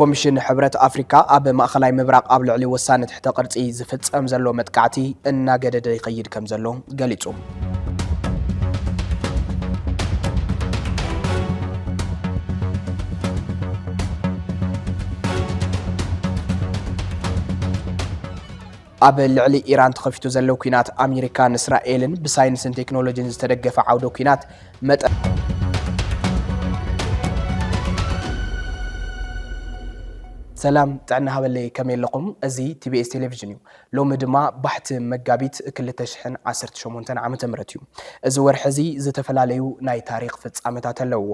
ኮሚሽን ሕብረት ኣፍሪካ ኣብ ማእኸላይ ምብራቕ ኣብ ልዕሊ ወሳኒ ትሕተ ቅርፂ ዝፍፀም ዘሎ መጥቃዕቲ እናገደደ ይኸይድ ከምዘሎ ገሊፁ። ኣብ ልዕሊ ኢራን ተኸፊቱ ዘሎ ኲናት ኣሜሪካን እስራኤልን ብሳይንስን ቴክኖሎጂን ዝተደገፈ ዓውደ ኲናት መጠን ሰላም ጥዕና ሃበለይ ከመይ ኣለኹም? እዚ ቲቢኤስ ቴሌቪዥን እዩ። ሎሚ ድማ ባሕቲ መጋቢት 2018 ዓ ም እዩ። እዚ ወርሒ እዚ ዝተፈላለዩ ናይ ታሪክ ፍጻመታት ኣለውዎ።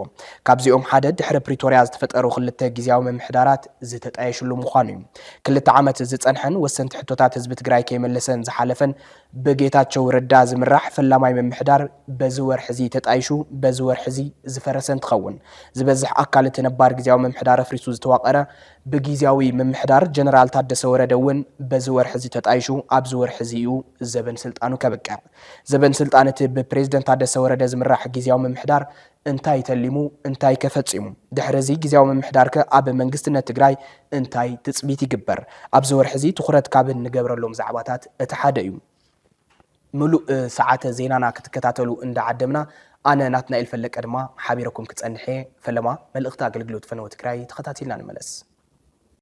ካብዚኦም ሓደ ድሕሪ ፕሪቶርያ ዝተፈጠሩ ክልተ ግዜያዊ ምምሕዳራት ዝተጣየሽሉ ምዃኑ እዩ። ክልተ ዓመት ዝፀንሐን ወሰንቲ ሕቶታት ህዝቢ ትግራይ ከይመለሰን ዝሓለፈን ብጌታቸው ረዳ ዝምራሕ ፈላማይ ምምሕዳር በዚ ወርሒ እዚ ተጣይሹ በዚ ወርሒ እዚ ዝፈረሰ እንትኸውን ዝበዝሕ ኣካል እቲ ነባር ግዝያዊ ምምሕዳር ኣፍሪሱ ዝተዋቐረ ብግዝያዊ ምምሕዳር ጀነራል ታደሰ ወረደ እውን በዚ ወርሒ እዚ ተጣይሹ ኣብዚ ወርሒ እዚ እዩ ዘበን ስልጣኑ ከብቅዕ። ዘበን ስልጣን እቲ ብፕሬዝደንት ታደሰ ወረደ ዝምራሕ ግዝያዊ ምምሕዳር እንታይ ተሊሙ እንታይከ ፈፂሙ? ድሕሪ እዚ ጊዚያዊ ምምሕዳርከ ኣብ መንግስትነት ትግራይ እንታይ ትፅቢት ይግበር? ኣብዚ ወርሒ እዚ ትኹረት ካብ እንገብረሎም ዛዕባታት እቲ ሓደ እዩ። ምሉእ ሰዓተ ዜናና ክትከታተሉ እንዳዓደምና ኣነ ናትናኤል ፈለቀ ድማ ሓቢረኩም ክፀንሕ እየ። ፈለማ መልእኽቲ ኣገልግሎት ፈነወ ትግራይ ተኸታቲልና ንመለስ።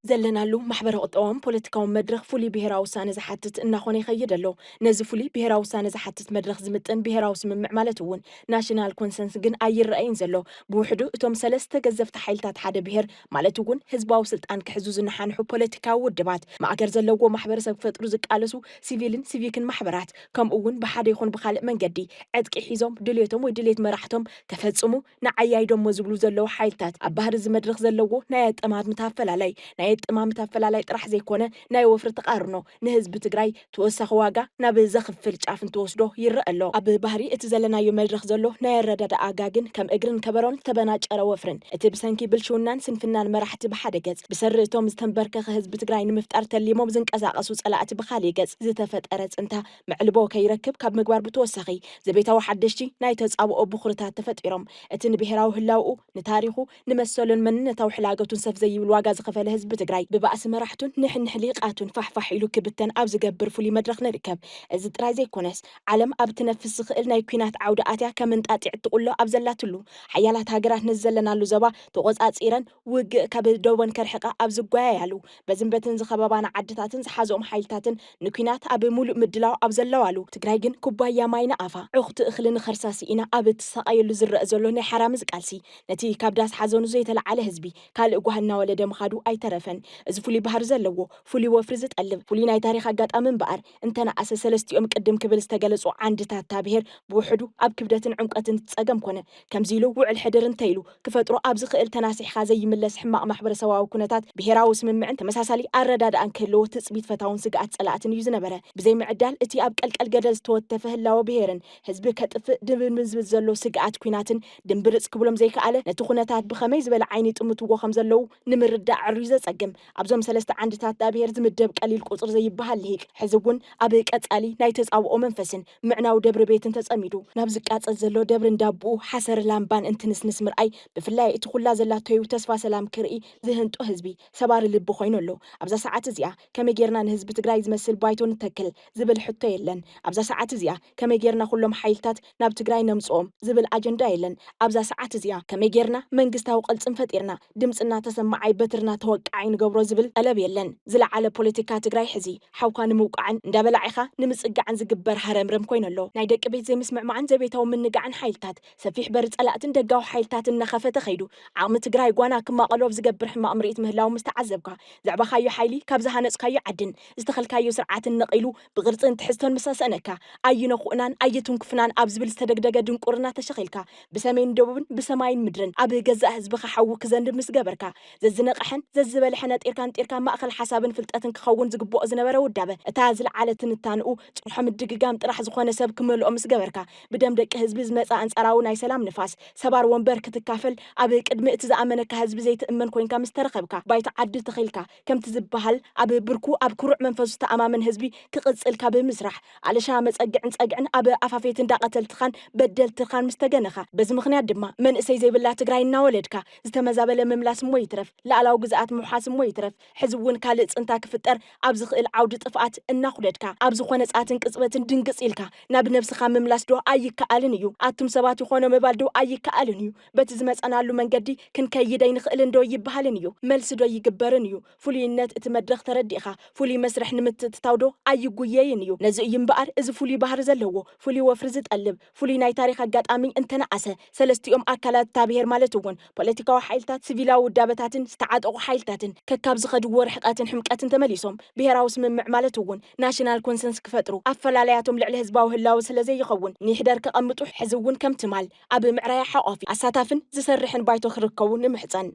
ዘለናሉ ማሕበረ-ቁጠባውን ፖለቲካውን መድረኽ ፍሉይ ብሄራዊ ውሳነ ዝሓትት እናኾነ ይኸይድ ኣሎ። ነዚ ፍሉይ ብሄራዊ ውሳነ ዝሓትት መድረኽ ዝምጥን ብሄራዊ ስምምዕ ማለት እውን ናሽናል ኮንሰንስ ግን ኣይረኣይን ዘሎ። ብውሕዱ እቶም ሰለስተ ገዘፍቲ ሓይልታት ሓደ ብሄር ማለት እውን ህዝባዊ ስልጣን ክሕዙ ዝነሓንሑ ፖለቲካዊ ውድባት፣ ማእገር ዘለዎ ማሕበረሰብ ክፈጥሩ ዝቃለሱ ሲቪልን ሲቪክን ማሕበራት ከምኡ እውን ብሓደ ይኹን ብኻልእ መንገዲ ዕጥቂ ሒዞም ድልየቶም ወይ ድልየት መራሕቶም ከፈፅሙ ንዓይ ኣይዶሞ ዝብሉ ዘለዉ ሓይልታት ኣብ ባህሪ እዚ መድረኽ ዘለዎ ናይ ኣጠማምታ ኣፈላላይ ናይ ኣጠማምታ ኣፈላላይ ጥራሕ ዘይኮነ ናይ ወፍሪ ተቓርኖ ንህዝቢ ትግራይ ተወሳኺ ዋጋ ናብ ዘኽፍል ጫፍ እንትወስዶ ይረኣ ኣሎ። ኣብ ባህሪ እቲ ዘለናዮ መድረኽ ዘሎ ናይ ኣረዳድኣ ጋግን ከም እግርን ከበሮን ዝተበናጨረ ወፍርን እቲ ብሰንኪ ብልሽውናን ስንፍናን መራሕቲ ብሓደ ገፅ ብሰሪ እቶም ዝተምበርከኸ ህዝቢ ትግራይ ንምፍጣር ተሊሞም ዝንቀሳቐሱ ፀላእቲ ብኻሊእ ገፅ ዝተፈጠረ ፅንታ መዕልቦ ከይረክብ ካብ ምግባር ብተወሳኺ ዘቤታዊ ሓደሽቲ ናይ ተጻብኦ ብኹርታት ተፈጢሮም እቲ ንብሄራዊ ህላውኡ፣ ንታሪኹ፣ ንመሰሉን መንነታዊ ሕላገቱን ሰፍ ዘይብል ዋጋ ዝኸፈለ ህዝቢ ትግራይ ብባእሲ መራሕቱን ንሕንሕ ሊቃቱን ፋሕ ፋሕ ኢሉ ክብተን ኣብ ዝገብር ፍሉይ መድረኽ ንርከብ። እዚ ጥራይ ዘይኮነስ ዓለም ኣብ እትነፍስ ዝኽእል ናይ ኲናት ዓውዲ ኣትያ ከም እንጣጢዕ እትቑሎ ኣብ ዘላትሉ፣ ሓያላት ሃገራት ነዚ ዘለናሉ ዘባ ተቖጻጺረን ውግእ ካብ ዶቦን ከርሕቃ ኣብ ዝጓየያሉ፣ በዝን በትን ዝኸበባና ዓድታትን ዝሓዘኦም ሓይልታትን ንኲናት ኣብ ሙሉእ ምድላው ኣብ ዘለዋሉ፣ ትግራይ ግን ኩባያ ማይ ንኣፋ፣ ዕኹቲ እኽሊ ንኸርሳ ስኢና ኣብ እትሳቐየሉ ዝረእ ዘሎ ናይ ሓራምዝ ቃልሲ፣ ነቲ ካብ ዳስ ሓዘኑ ዘይተለዓለ ህዝቢ ካልእ ጓህ እናወለደ ምኻዱ ኣይተረፈን። እዚ ፍሉይ ባህሪ ዘለዎ፣ ፍሉይ ወፍሪ ዝጠልብ፣ ፍሉይ ናይ ታሪኽ ኣጋጣሚ እምበኣር፣ እንተነኣሰ ሰለስቲኦም ቅድም ክብል ዝተገለጹ ዓንድታት እታ ብሄር ብውሕዱ ኣብ ክብደትን ዕምቆትን እቲ ጸገም ኮነ ከምዚ ኢሉ ውዕል ሕድር እንተ ኢሉ ክፈጥሮ ኣብ ዝኽእል ተናሲሕኻ ዘይምለስ ሕማቕ ማሕበረሰባዊ ኩነታት ብሄራዊ ስምምዕን ተመሳሳሊ ኣረዳድኣን ክህልዎ ትጽቢት ፈታውን ስግኣት ጸላእትን እዩ ዝነበረ። ብዘይምዕዳል እቲ ኣብ ቀልቀል ገደል ዝተወተፈ ህላወ ብሄርን ህዝቢ ከጥፍእ ድብንብንዝብል ዘሎ ስግኣት ኩናትን ድምብርጽ ክብሎም ዘይከኣለ ነቲ ኩነታት ብኸመይ ዝበለ ዓይኒ ይጥምትዎ ከም ዘለዉ ንምርዳእ ኣዕርዩ ዘጸግም ኣብዞም ሰለስተ ዓንድታት ዳብሄር ዝምደብ ቀሊል ቁጽሪ ዘይበሃል ልሂቅ፣ ሕዚ እውን ኣብ ቀጻሊ ናይ ተጻብኦ መንፈስን ምዕናው ደብሪ ቤትን ተጸሚዱ፣ ናብ ዝቃጸል ዘሎ ደብሪ እንዳቦኡ ሓሰር ላምባን እንትንስንስ ምርኣይ፣ ብፍላይ እቲ ኩላ ዘላቶዩ ተስፋ ሰላም ክርኢ ዝህንጦ ህዝቢ፣ ሰባሪ ልቢ ኮይኑ ኣሎ። ኣብዛ ሰዓት እዚኣ ከመይ ጌርና ንህዝቢ ትግራይ ዝመስል ባይቶ ንተክል? ዝብል ሕቶ የለን። ኣብዛ ሰዓት እዚኣ ከመይ ጌርና ኩሎም ሓይልታት። ናብ ትግራይ ነምፅኦም ዝብል ኣጀንዳ የለን ኣብዛ ሰዓት እዚኣ። ከመይ ገይርና መንግስታዊ ቅልፅም ፈጢርና ድምፅና ተሰማዓይ በትርና ተወቃዓይ ንገብሮ ዝብል ጠለብ የለን። ዝለዓለ ፖለቲካ ትግራይ ሕዚ ሓውካ ንምውቃዕን እንዳበላዒኻ ንምፅጋዕን ዝግበር ሃረምረም ኮይኑ ኣሎ። ናይ ደቂ ቤት ዘይምስምዕማዕን ዘቤታዊ ምንጋዕን ሓይልታት ሰፊሕ በሪ ፀላእትን ደጋዊ ሓይልታትን እናኸፈተ ከይዱ ዓቕሚ ትግራይ ጓና ክማቐሉ ኣብ ዝገብር ሕማቕ ምርኢት ምህላዉ ምስተዓዘብካ ዘዕባኻዮ ሓይሊ ካብ ዝሃነፅካዮ ዓድን ዝተኸልካዮ ስርዓትን ነቒሉ ብቕርጽን ትሕዝቶን ምስ ኣሰእነካ፣ ኣይነኹእናን ኣይትንኩፍናን ኣብ ዝብል ዝተደግደገ ድንቁርና ተሸኺልካ፣ ብሰሜን ደቡብን ብሰማይን ምድርን ኣብ ገዛእ ህዝብኻ ሓዊ ክዘንብ ምስ ገበርካ፣ ዘዝነቐሐን ዘዝበልሐ ነጢርካ ንጢርካ ማእከል ሓሳብን ፍልጠትን ክኸውን ዝግብኦ ዝነበረ ውዳበ፣ እታ ዝልዓለ ትንታንኡ ጭርሖ ምድግጋም ጥራሕ ዝኾነ ሰብ ክመልኦ ምስ ገበርካ፣ ብደም ደቂ ህዝቢ ዝመጸ ኣንጻራዊ ናይ ሰላም ንፋስ፣ ሰባር ወንበር ክትካፈል፣ ኣብ ቅድሚ እቲ ዝኣመነካ ህዝቢ ዘይትእመን ኮይንካ ምስ ተረኸብካ፣ ባይታ ዓዲ ተኺልካ፣ ከምቲ ዝበሃል ኣብ ብርኩ ኣብ ኩሩዕ መንፈሱ ዝተኣማመን ህዝቢ ክቕጽል ካብ ምስራሕ ኣለሻ መጸግዕን ጸግዕን ኣብ ኣፋፌት እንዳ ቀተልትኻን በደልትኻን ምስ ተገነኻ በዚ ምኽንያት ድማ መንእሰይ ዘይብላ ትግራይ እናወለድካ ዝተመዛበለ ምምላስ እሞ ይትረፍ ልኣላዊ ግዝኣት ምውሓስ እሞ ይትረፍ ሕዚ እውን ካልእ ጽንታ ክፍጠር ኣብ ዝኽእል ዓውዲ ጥፍኣት እናኹደድካ ኣብ ዝኾነ ጸኣትን ቅጽበትን ድንግጽ ኢልካ ናብ ነብስኻ ምምላስ ዶ ኣይከኣልን እዩ ኣቱም ሰባት ይኾኖ ምባል ዶ ኣይከኣልን እዩ በቲ ዝመጸናሉ መንገዲ ክንከይድ ኣይንኽእልን ዶ ይበሃልን እዩ መልሲ ዶ ይግበርን እዩ ፍሉይነት እቲ መድረኽ ተረዲእኻ ፍሉይ መስርሕ ንምትእትታው ዶ ኣይጉየይን እዩ ነዚ እዩ እምበኣር እዚ ፍሉይ ባህሪ ዘለዎ ፍሉይ ወፍሪ ዝጠልብ ፍሉይ ናይ ታሪኽ ኣጋጣሚ እንተነኣሰ ሰለስቲኦም ኣካላት እታ ብሄር ማለት እውን ፖለቲካዊ ሓይልታት ስቪላዊ ውዳበታትን ዝተዓጠቑ ሓይልታትን ከካብ ዝኸድዎ ርሕቐትን ሕምቀትን ተመሊሶም ብሄራዊ ስምምዕ ማለት እውን ናሽናል ኮንሰንስ ክፈጥሩ ኣፈላላያቶም ልዕሊ ህዝባዊ ህላወ ስለዘይኸውን ንይሕደር ከቐምጡ ሕዚ እውን ከም ትማል ኣብ ምዕራይ ሓቋፊ፣ ኣሳታፍን ዝሰርሕን ባይቶ ክርከቡ ንምሕጸን።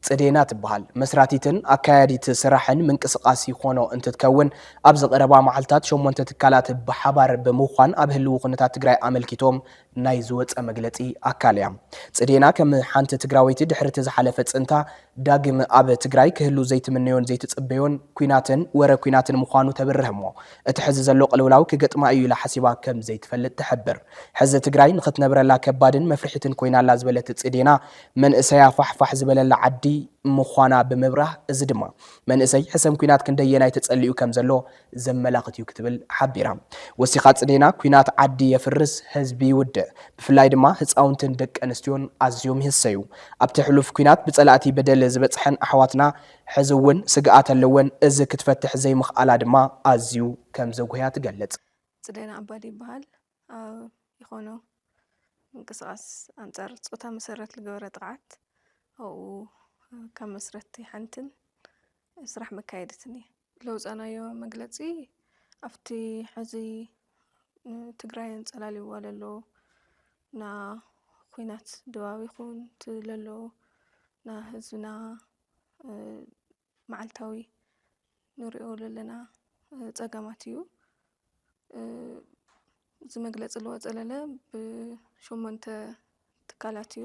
ጽዴና ትበሃል መስራቲትን ኣካያዲት ስራሕን ምንቅስቃስ ይኾኖ እንትትከውን ኣብዚ ቀረባ መዓልታት ሸሞንተ ትካላት ብሓባር ብምዃን ኣብ ህልዊ ኩነታት ትግራይ ኣመልኪቶም ናይ ዝወጸ መግለጺ ኣካል እያ። ጽዴና ከም ሓንቲ ትግራወይቲ ድሕሪ እቲ ዝሓለፈ ጽንታ ዳግም ኣብ ትግራይ ክህሉ ዘይትምነዮን ዘይትጽበዮን ኲናትን ወረ ኲናትን ምዃኑ ተብርህ'ሞ፣ እቲ ሕዚ ዘሎ ቅልውላው ክገጥማ እዩ ኢላ ሓሲባ ከም ዘይትፈልጥ ትሕብር። ሕዚ ትግራይ ንኽትነብረላ ከባድን መፍርሒትን ኰይና ኣላ ዝበለት ጽዴና፣ መንእሰያ ፋሕ ፋሕ ዝበለላ ዓዲ ምዃና ብምብራህ፣ እዚ ድማ መንእሰይ ሕሰም ኲናት ክንደየናይ ተጸሊኡ ከም ዘሎ ዘመላኽት እዩ ክትብል ሓቢራ። ወሲኻ ጽዴና ኲናት ዓዲ የፍርስ፣ ህዝቢ ይውድእ፣ ብፍላይ ድማ ህጻውንትን ደቂ ኣንስትዮን ኣዝዮም ይህሰዩ። ኣብቲ ሕሉፍ ኲናት ብጸላእቲ በደል ዝበጽሐን ኣሕዋትና ሕዚ እውን ስግኣት ኣለወን፣ እዚ ክትፈትሕ ዘይምኽኣላ ድማ ኣዝዩ ከም ዘጉህያ ትገልጽ። ጽዴና ኣባዲ ይበሃል፣ ኣብ ኢኮኖ ምንቅስቓስ ኣንጻር ጾታ መሰረት ልገበረ ጥቕዓት ኣብኡ ካብ መስረትቲ ሓንትን ስራሕ መካየዲትን እየ። ለውፃናዮ መግለፂ ኣብቲ ሕዚ ትግራይ ኣንፀላልይዋ ለሎ ና ኹናት ድባብ ይኹን እቲ ለሎ ና ህዝብና መዓልታዊ ንሪኦ ለለና ፀገማት እዩ። እዚ መግለፂ ለውሃ ፀለለ ብሸሞንተ ትካላት እዩ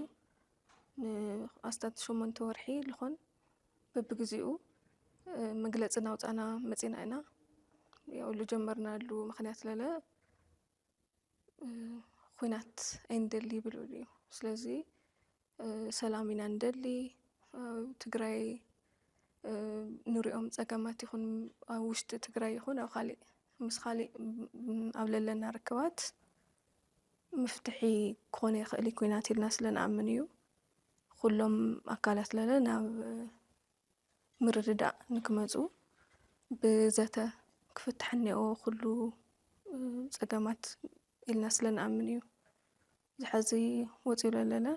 ንኣስታት ሸሞንተ ወርሒ ልኾን በብግዚኡ መግለፂ እናውፃእና መፂና ኢና። ያው ልጀመርናሉ ምክንያት ለለ ኹናት ኣይንደሊ ይብል እዩ። ስለዚ ሰላም ኢና ንደሊ ኣብ ትግራይ ንሪኦም ፀገማት ይኹን ኣብ ውሽጢ ትግራይ ይኹን ኣብ ካሊእ ምስ ካሊእ ኣብ ለለና ርክባት ምፍትሒ ክኾነ ይኽእል እዩ ኩናት ኢልና ስለንኣምን እዩ ኩሎም ኣካላት ለለ ናብ ምርድዳእ ንክመፁ ብዘተ ክፍታሕ እኒኦ ኩሉ ፀገማት ኢልና ስለንኣምን እዩ። ዝሐዚ ወፂኡ ለለለ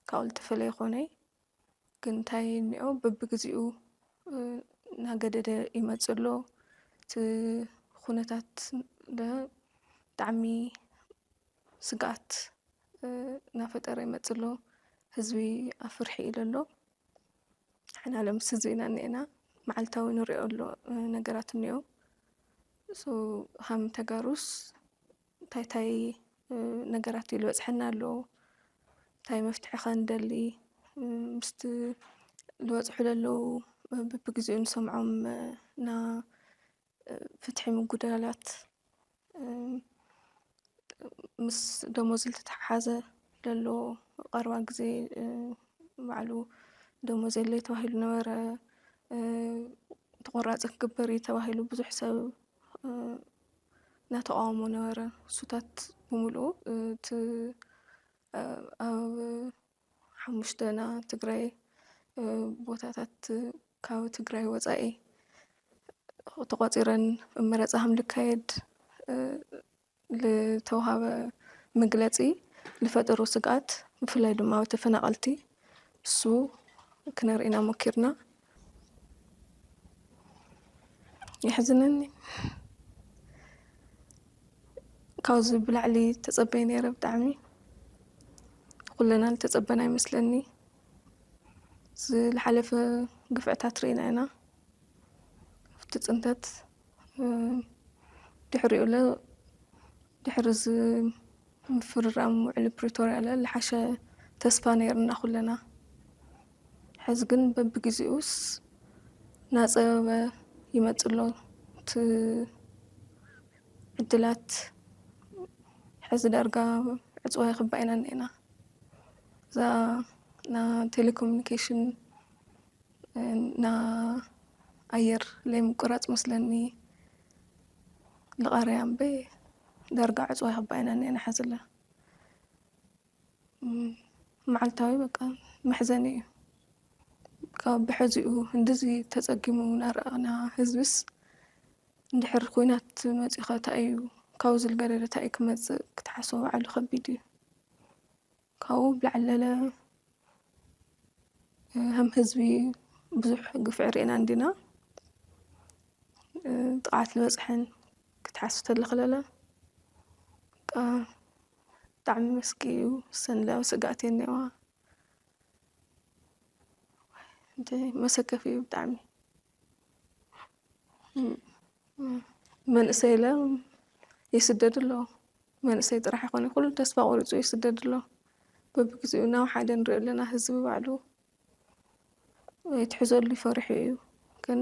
ካብኡ ልተፈለ ይኮነይ ግን ታይ እኒኦ በብግዚኡ ናገደደ ይመፅእ ኣሎ እቲ ኩነታት ለ ብጣዕሚ ስግኣት ናፈጠረ ይመፅእ ኣሎ ህዝቢ ኣብ ፍርሒ እዩ ለሎ ንሕና ለ ምስ ህዝቢ ኢና እኒኤና ማዓልታዊ ንሪኦ ነገራት እኒኦ ሶ ሃም ተጋሩስ እንታይ እንታይ ነገራት እዩ ዝበፅሐና ኣሎ እንታይ መፍትሒ ኸ ንደሊ ምስቲ ዝበፅሑ ዘለዉ ብብግዚኡ ንሰምዖም እና ፍትሒ ምጉዳላት ምስ ደሞዝ ዝተተሓሓዘ ዘሎ ቀረባ ግዜ ባዕሉ ደሞዝ የለይ ተባሂሉ ነበረ ተቆራፂ ክግበር እዩ ተባሂሉ ብዙሕ ሰብ እናተቓወሞ ነበረ። ሱታት ብምልኡ እቲ ኣብ ሓሙሽተና ትግራይ ቦታታት ካብ ትግራይ ወፃኢ ተቖፂረን መረፃ ከምልካየድ ልተውሃበ ምግለጺ ልፈጠሮ ስግኣት ብፍላይ ድማ ኣብ ተፈናቐልቲ እሱ ክነርኢና ሞኪርና የሕዝነኒ ካብዚ ብላዕሊ ተጸበይ ነይረ ብጣዕሚ ኩለና ዝተጸበና ይመስለኒ ዝሓለፈ ግፍዕታት ርኢና ኢና ኣብቲ ፅንተት ድሕሪኡ ለ ድሕሪ እዚ ምፍርራም ውዕሊ ፕሪቶርያ ለ ዝሓሸ ተስፋ ነይርና ኩለና ሕዚ ግን በብግዜኡስ ናፀበበ ይመፅእ ኣሎ እቲ ዕድላት ሕዚ ዳርጋ ዕፅዋ ይኽባእ ኢና እኒኤና እዛ ቴሌኮሙኒኬሽን ን ኣየር ለይ ምቁራጽ መስለኒ ልቓርያ እምበይ ዳርጋ ዕጽዋ ይኽባ ኢና እኒኤና ሐዚ ለ መዓልታዊ በቃ መሕዘኒ እዩ ካብ ብሐዚኡ እንደዚ ተጸጊሙ ናረኣና ህዝብስ እንድሕር ኩናት መጺኡ ኸ ታይ እዩ ካብኡ ዝልገደደ ታይ እዩ ክመጽእ ክትሓስቦ ባዕሉ ከቢድ እዩ። ካብኡ ብላዕለለ ከም ህዝቢ ብዙሕ ግፍዒ ርኤና እንዲና ጥቕዓት ዝበፅሐን ክትሓስብ ተለኽለለ ብጣዕሚ መስኪ እዩ ሰንለያዊ ስጋኣት እየ እኒዋ መሰከፊ እዩ ብጣዕሚ መንእሰይ ኢለ ይስደድ ኣሎ መንእሰይ ጥራሕ ኣይኮነን ኩሉ ተስፋ ቆሪፁ ይስደድ ኣሎ በቢግዚኡ ናብ ሓደ ንሪኦ ኣለና ህዝቢ ባዕሉ ኣይትሕዘሉ ፈሪሑ እዩ ግን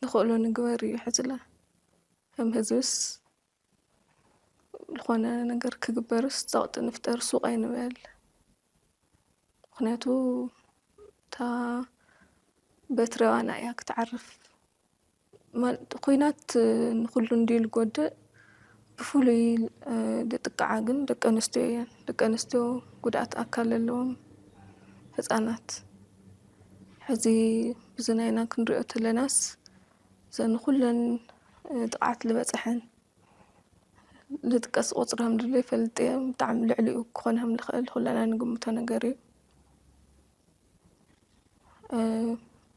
ንኽእሎ ንግበር እዩ ሕዚ ለ ከም ህዝብስ ዝኾነ ነገር ክግበርስ ፀቕጢ ንፍጠር ሱቕ ኣይንበል ምክንያቱ እታ በትሪ ኣባና እያ ክትዓርፍ ኩናት ንኩሉ እንድዩ ዝጎድእ ብፍሉይ ዝጥቅዓ ግን ደቂ ኣንስትዮ እየን ደቂ ኣንስትዮ ጉድኣት ኣካል ኣለዎም ህፃናት ሕዚ ብዝናይና ክንሪኦ ተለናስ ዘን ኩለን ጥቕዓት ዝበፀሐን ልጥቀስ ቁፅረም ድለ ይፈልጥ እየ ብጣዕሚ ልዕሊኡ ክኾን ከም ዝኽእል ኩለና ንግምቶ ነገር እዩ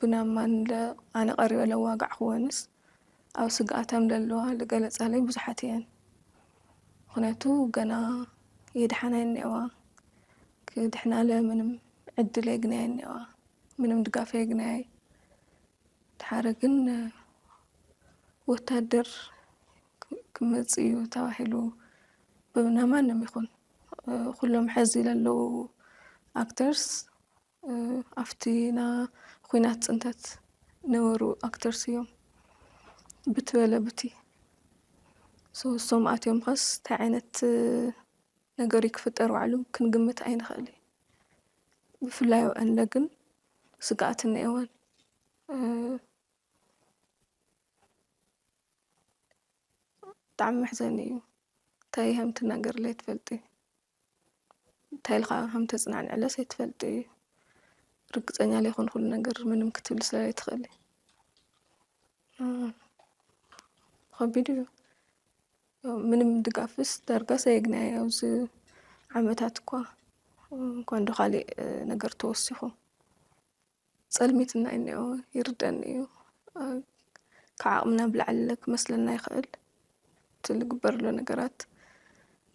ብናማን ኣነ ቀሪበ ለዋጋዕክወንስ ኣብ ስግኣተም ለለዋ ዝገለፃለይ ብዙሓት እየን ምክንያቱ ገና የድሓና የኒዋ ክድሕናለ ምንም ዕድል የግናየ እኒዋ ምንም ድጋፍ የግናየ ድሓረ ግን ወታደር ክመጽእ እዩ ተባሂሉ ብና ማንም ይኹን ኩሎም ሕዚ ዘለዉ ኣክተርስ ኣብቲ ና ኩናት ፅንተት ነበሩ ኣክተርስ እዮም ብትበለ ቡቲ ሶሶም ኣትዮም ኸስ እንታይ ዓይነት ነገር ክፍጠር ባዕሉ ክንግምት ኣይንኽእል ብፍላይ ንለ ግን ስግኣት እኒኤወን። ብጣዕሚ መሕዘኒ እዩ። እንታይ ከም ትናገርለ ኣይትፈልጢ፣ እንታይ ኢልካ ከም ተፅናንዕለስ ኣይትፈልጢ እዩ። ርግፀኛ ዘይኮንኩሉ ነገር ምንም ክትብሊ ስለ ዘይትኽእሊ ከቢድ እዩ። ምንም ድጋፍስ ዳርጋስ ኣየግናየ ኣብዚ ዓመታት እኳ እንኳን ዶ ካሊእ ነገር ተወሲኹ ፀልሚት እና እኒኦ ይርደኒ እዩ ካብ ዓቕምና ብላዕሊ ክመስለና ይኽእል እቲ ዝግበርሎ ነገራት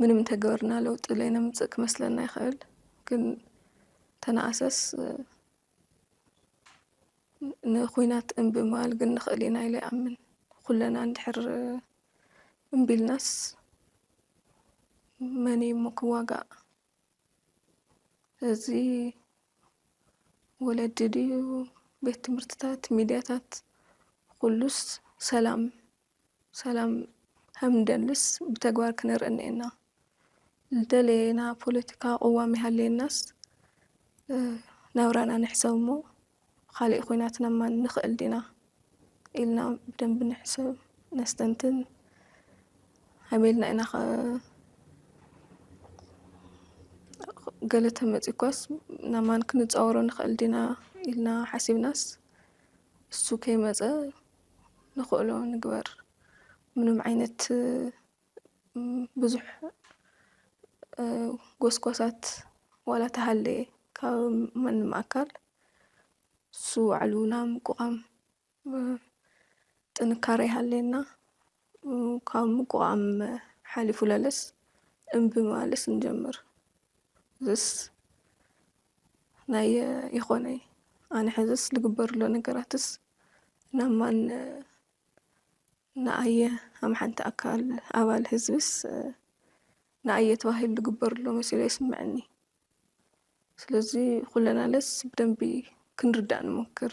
ምንም እንተገበርና ለውጢ ለይነምፅእ ክመስለና ይኽእል ግን ተነኣሰስ ንኩናት እምቢ ምባል ግን ንኽእል ኢና ኢለ ይኣምን ኩለና እንድሕር እምቢልናስ መን እዩ እሞ ክዋጋእ? እዚ ወለዲ ድዩ ቤት ትምህርትታት ሚድያታት ኩሉስ ሰላም ሰላም ከምንደልስ ብተግባር ክነርኢ እኒኤና። ዝደለና ፖለቲካዊ ቅዋም ይሃልየናስ ናብራና ንሕሰብ እሞ ብኻሊእ ኩናት ነማን ንኽእል ዲና ኢልና ብደንቢ ንሕሰብ ነስተንትን ሃይሜልና ኢና ገለ ተመፂኳስ ናማን ክንፃወሮ ንኽእል ዲና ኢልና ሓሲብናስ እሱ ከይመፀ ንኽእሎ ንግበር ምንም ዓይነት ብዙሕ ጎስጓሳት ዋላ ተሃለየ ካብ ማንም ኣካል ንሱ ባዕሉ ናይ ምቁቋም ጥንካረ ይሃለየና። ካብ ምቁቋም ሓሊፉ ለለስ እምቢ ማለስ ንጀምር። እዚስ ናይ ይኾነይ ኣነ ሕዝስ ልግበርሎ ነገራትስ ናብ ማን ንኣየ ከም ሓንቲ ኣካል ኣባል ህዝብስ ንኣየ ተባሂሉ ዝግበርሎ መሲሉ ኣይስመዐኒ። ስለዚ ኩለናለስ ብደንቢ ክንርዳእ ንሞክር።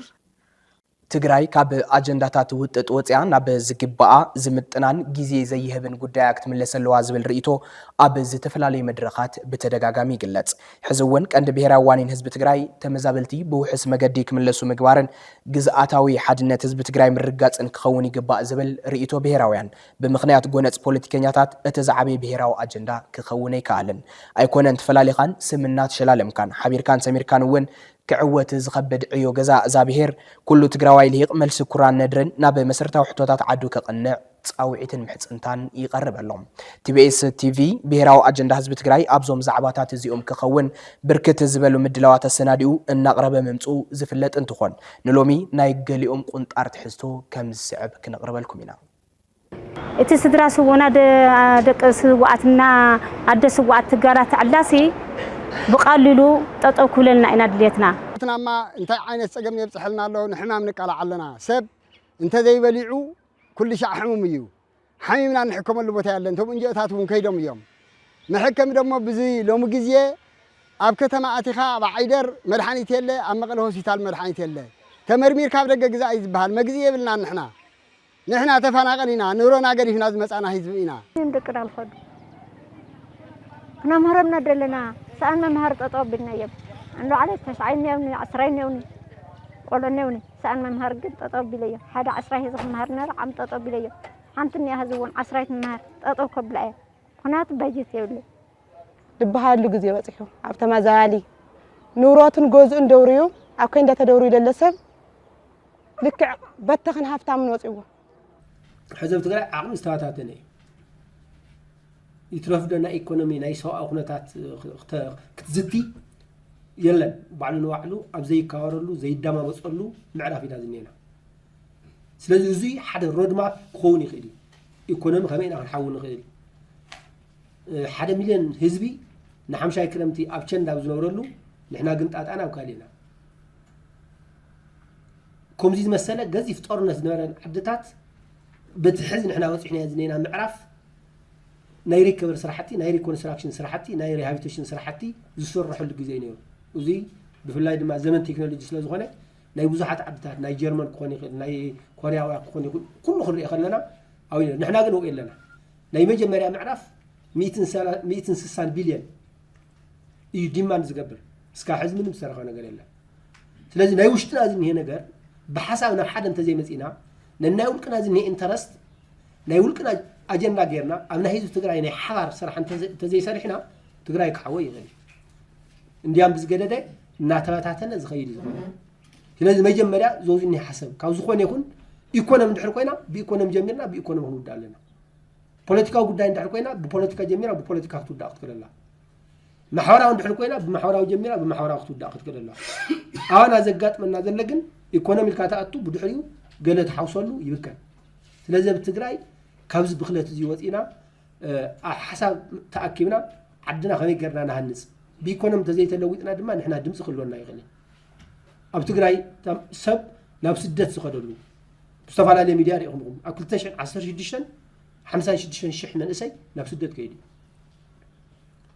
ትግራይ ካብ ኣጀንዳታት ውጥጥ ወፂኣ ናብ ዝግበኣ ዝምጥናን ጊዜ ዘይህብን ጉዳያ ክትምለስ ኣለዋ ዝብል ርኢቶ ኣብ ዝተፈላለዩ መድረኻት ብተደጋጋሚ ይግለፅ። ሕዚ እውን ቀንዲ ብሄራዊ ዋኒን ህዝቢ ትግራይ ተመዛበልቲ ብውሑስ መገዲ ክምለሱ ምግባርን ግዝኣታዊ ሓድነት ህዝቢ ትግራይ ምርግጋፅን ክኸውን ይግባእ ዝብል ርኢቶ ብሄራውያን ብምኽንያት ጎነፅ ፖለቲከኛታት እቲ ዝዓበየ ብሄራዊ ኣጀንዳ ክኸውን ኣይከኣለን። ኣይኮነን ተፈላሊኻን ስም እናተሸላለምካን ሓቢርካን ሰሚርካን እውን ክዕወት ዝኸብድ ዕዮ ገዛ እዛ ብሄር ኩሉ ትግራዋይ ልሂቕ መልሲ ኩራን ነድርን ናብ መሰረታዊ ሕቶታት ዓዱ ከቕንዕ ፃውዒትን ምሕፅንታን ይቐርበሎም። ቲቢኤስ ቲቪ ብሄራዊ ኣጀንዳ ህዝቢ ትግራይ ኣብዞም ዛዕባታት እዚኦም ክኸውን ብርክት ዝበሉ ምድላዋት ኣሰናዲኡ እናቕረበ ምምፅኡ ዝፍለጥ እንትኾን ንሎሚ ናይ ገሊኦም ቁንጣር ትሕዝቶ ከምዝስዕብ ክነቕርበልኩም ኢና። እቲ ስድራ ስውኡና ደቂ ስውኣት እና ኣደ ስውኣት ትጋራ ተዕላሲ ብቐሊሉ ጠጠው ክብለልና ኢና ድልየትና። ሕትናማ እንታይ ዓይነት ፀገም የብፅሐልና ኣሎ ንሕማም ንቃላዕ ኣለና ሰብ እንተዘይበሊዑ ኩልሻዕ ሕሙም እዩ ሓሚምና እንሕከመሉ ቦታ የለን እቶም እንጅኦታት እውን ከይዶም እዮም መሐከሚ ደሞ ብዚ ሎሚ ግዜ ኣብ ከተማ ኣቲኻ ኣብ ዓይደር መድሓኒት የለ ኣብ መቐለ ሆስፒታል መድሓኒት የለ ተመርሚርካ ኣብ ደገ ግዛእ እዩ ዝበሃል መግዝኢ የብልናን ንሕና ንሕና ተፋናቐል ኢና ንብሮና ገዲፍና ዝመጻና ህዝቢ ኢና እዮም ደቅና ንኸዱ ክነምህሮም ነደለና ሰኣን መምሃሪ ጠጠው ኣቢልና እዮም ኣንዶ ዓለ ተስዓይ እኒኦኒ ዓስራይ እኒኦኒ ቆልዑ እኒኦኒ ሰኣን ምምሃር ግን ጠጠው ኣቢለዮ ሓደ ዓስራይ ሒዘ ክመሃር እናበለ ዓም ጠጠው ኣቢለዮ ሓንቲ እኒኣ ሕዚ እውን ዓስራይ ትመሃር ጠጠው ከብላ እየ ምክንያቱ በጀት የብለይ ድበሃለሉ ግዜ በፂሑ ኣብ ተመዛባሊ ንብረቱን ገዝኡን ደውርዩ ኣብ ከንዳ ተደውርዩ ለለ ሰብ ልክዕ በተኽን ሃፍታምን ወፅዎ ሕዚ ኣብ ትግራይ ዓቕሚ ዝተባታተነ እዩ ይትረፍ ዶ ናይ ኢኮኖሚ ናይ ሰብኣዊ ኩነታት ክትዝቲ የለን ባዕሉ ንባዕሉ ኣብ ዘይካወረሉ ዘይደማመፀሉ ምዕራፍ ኢና ዝኒና ስለዚ እዚ ሓደ ሮድማፕ ክኸውን ይኽእል እዩ ኢኮኖሚ ከመይ ኢና ክንሓዊ ንኽእል ሓደ ሚልዮን ህዝቢ ንሓምሻይ ክረምቲ ኣብ ቸንዳ ኣብ ዝነብረሉ ንሕና ግን ጣጣና ኣብ ካልእ ኢና ከምዚ ዝመሰለ ገዚፍ ጦርነት ዝነበረን ዓድታት በቲ ሕዚ ንሕና በፂሕናዮ ዝኔና ምዕራፍ ናይ ሪከቨሪ ስራሕቲ ናይ ሪኮንስትራክሽን ስራሕቲ ናይ ሪሃቢቴሽን ስራሕቲ ዝስረሐሉ ግዜ እዩ ነይሩ እዙይ ብፍላይ ድማ ዘመን ቴክኖሎጂ ስለ ዝኾነ ናይ ብዙሓት ዓድታት ናይ ጀርመን ክኾን ይኽእል ናይ ኮርያውያ ክኾን ይኽእል ኩሉ ክንሪኦ ከለና ኣብኡ ነይሩ ንሕና ግን ኣብኡ ኣለና ናይ መጀመርያ ምዕራፍ ሚእትን ስሳን ቢልዮን እዩ ዲማን ዝገብር እስካብ ሕዚ ምንም ዝሰረኸ ነገር የለን ስለዚ ናይ ውሽጥና ዝኒሄ ነገር ብሓሳብ ናብ ሓደ እንተዘይመፂና ነናይ ውልቅና ዝኒሄ ኢንተረስት ናይ ውልቅና ኣጀንዳ ጌርና ኣብ ናይ ህዝቢ ትግራይ ናይ ሓባር ስራሕ እንተዘይሰሪሕና ትግራይ ክሓወ ይኽእል እዩ እንዲያም ብዝገደደ እናተበታተነ ዝኸይድ እዩ ዝኾነ ስለዚ መጀመርያ ዞዝኒ ሓሰብ ካብ ዝኾነ ይኹን ኢኮኖሚ ድሕር ኮይና ብኢኮኖሚ ጀሚርና ብኢኮኖሚ ክንውዳ ኣለና ፖለቲካዊ ጉዳይ እንድሕር ኮይና ብፖለቲካ ጀሚራ ብፖለቲካ ክትውዳእ ክትክእል ኣላ ማሕበራዊ እንድሕር ኮይና ብማሕበራዊ ጀሚራ ብማሕበራዊ ክትውዳእ ክትክእል ኣላ ኣዋና ዘጋጥመና ዘለ ግን ኢኮኖሚ ኢልካ ተኣቱ ብድሕሪኡ ገለ ትሓውሰሉ ይብከን ስለዚ ኣብ ትግራይ ካብዚ ብክለት እዚ ወፂና ኣብ ሓሳብ ተኣኪብና ዓድና ከመይ ገርና ንሃንፅ ብኢኮኖሚ እንተዘይተለዊጥና ድማ ንሕና ድምፂ ክህልወና ይኽእል ኣብ ትግራይ ሰብ ናብ ስደት ዝኸደሉ ዝተፈላለየ ሚድያ ሪኢኹም ኢኹም ኣብ 2016 56 ሽሕ መንእሰይ ናብ ስደት ከይዱ እዩ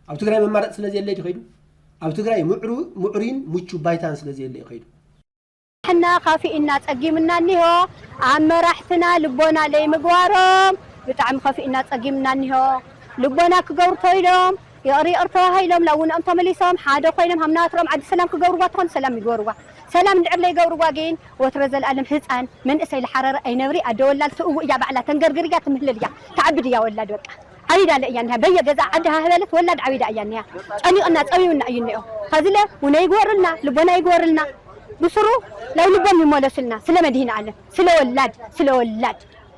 ኣብ ትግራይ መማረፂ ስለ ዘየለ እዩ ከይዱ ኣብ ትግራይ ምዕሩይን ምቹ ባይታን ስለ ዘየለ እዩ ከይዱ ሕና ካፊእና ጸጊምና እኒሆ ኣብ መራሕትና ልቦና ለይምግባሮም ብጣዕሚ ከፊእና ጸጊምና እኒሆ ልቦና ክገብሩ ተይሎም ይቕሪ ይቕር ተባሂሎም ናብ ውንኦም ተመሊሶም ሓደ ኮይኖም ሃምናትሮም ዓዲ ሰላም ክገብርዋ ተኾን ሰላም ይግበርዋ ሰላም እንድዕር ለይገብርዋ ግን ወትረ ዘልኣለም ህጻን መንእሰይ ልሓረረ ኣይነብሪ ኣደ ወላድ ስእዉ እያ ባዕላ ተንገርግር እያ ትምህልል እያ ትዓብድ እያ ወላድ በቃ ዓቢዳለ እያ እኒሃ በየ ገዝኣ ዓዲ ሃህ በለት ወላድ ዓቢዳ እያ እኒሃ ጨኒቅና ጸቢቡና እዩ እኒኦ ኸዚለ ዉነ ይግበርልና ልቦና ይግበርልና ብሱሩ ላይ ልቦም ይሞለሱልና ስለ መድሂን ኣለም ስለ ወላድ ስለ ወላድ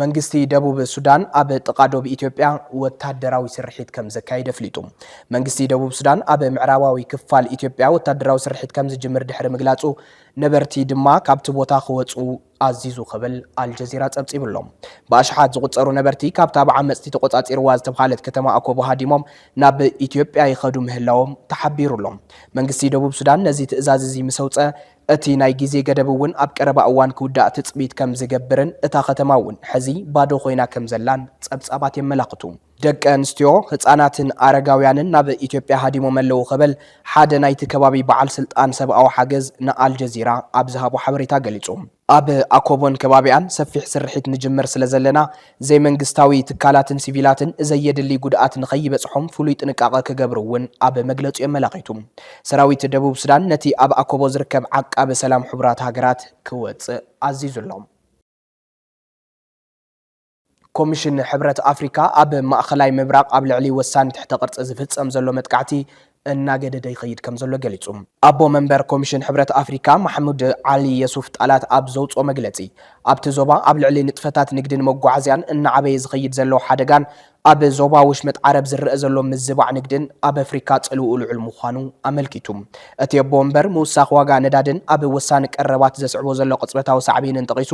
መንግስቲ ደቡብ ሱዳን ኣብ ጥቓ ዶብ ኢትዮጵያ ወታደራዊ ስርሒት ከም ዘካይድ ኣፍሊጡ። መንግስቲ ደቡብ ሱዳን ኣብ ምዕራባዊ ክፋል ኢትዮጵያ ወታደራዊ ስርሒት ከም ዝጅምር ድሕሪ ምግላጹ፣ ነበርቲ ድማ ካብቲ ቦታ ክወጹ ኣዚዙ ክብል ኣልጀዚራ ጸብጺቡ ኣሎ። ብኣሽሓት ዝቑጸሩ ነበርቲ ካብታ ብዓመጽቲ ተቖጻጺርዋ ዝተብሃለት ከተማ ኣኮቦ ሃዲሞም ናብ ኢትዮጵያ ይኸዱ ምህላዎም ተሓቢሩ ኣሎ። መንግስቲ ደቡብ ሱዳን ነዚ ትእዛዝ እዚ ምስ ኣውጽኣ፣ እቲ ናይ ግዜ ገደብ እውን ኣብ ቀረባ እዋን ክውዳእ ትጽቢት ከም ዝገብርን እታ ከተማ እውን ሕዚ ባዶ ኮይና ከም ዘላን ጸብጻባት የመላኽቱ። ደቂ ኣንስትዮ፣ ህጻናትን ኣረጋውያንን ናብ ኢትዮጵያ ሃዲሞም ኣለዉ ክብል ሓደ ናይቲ ከባቢ በዓል ስልጣን ሰብኣዊ ሓገዝ ንኣልጀዚራ ኣብ ዝሃቦ ሓበሬታ ገሊጹ። ኣብ ኣኮቦን ከባቢኣን ሰፊሕ ስርሒት ንጅምር ስለ ዘለና፣ ዘይመንግስታዊ ትካላትን ሲቪላትን ዘየድሊ ጉድኣት ንኸይበፅሖም ፍሉይ ጥንቃቐ ክገብሩ እውን ኣብ መግለፂኡ ኣመላኺቱ። ሰራዊት ደቡብ ሱዳን ነቲ ኣብ ኣኮቦ ዝርከብ ዓቃቢ ሰላም ሕቡራት ሃገራት ክወፅእ ኣዚዙ ኣሎ። ኮሚሽን ሕብረት ኣፍሪካ ኣብ ማእኸላይ ምብራቕ ኣብ ልዕሊ ወሳኒ ትሕተ ቅርፂ ዝፍፀም ዘሎ መጥቃዕቲ እናገደደ ይኸይድ ከምዘሎ ገሊጹ። ኣቦ መንበር ኮሚሽን ሕብረት ኣፍሪካ ማሕሙድ ዓሊ የሱፍ ጣላት ኣብ ዘውጽኦ መግለጺ፣ ኣብቲ ዞባ ኣብ ልዕሊ ንጥፈታት ንግድን መጓዓዝያን እናዓበየ ዝኸይድ ዘሎ ሓደጋን ኣብ ዞባ ወሽመጥ ዓረብ ዝረኣ ዘሎ ምዝባዕ ንግድን ኣብ ኣፍሪካ ጽልውኡ ልዑል ምዃኑ ኣመልኪቱ። እቲ ኣቦ መንበር ምውሳኽ ዋጋ ነዳድን ኣብ ወሳኒ ቀረባት ዘስዕቦ ዘሎ ቅጽበታዊ ሳዕቤንን ጠቒሱ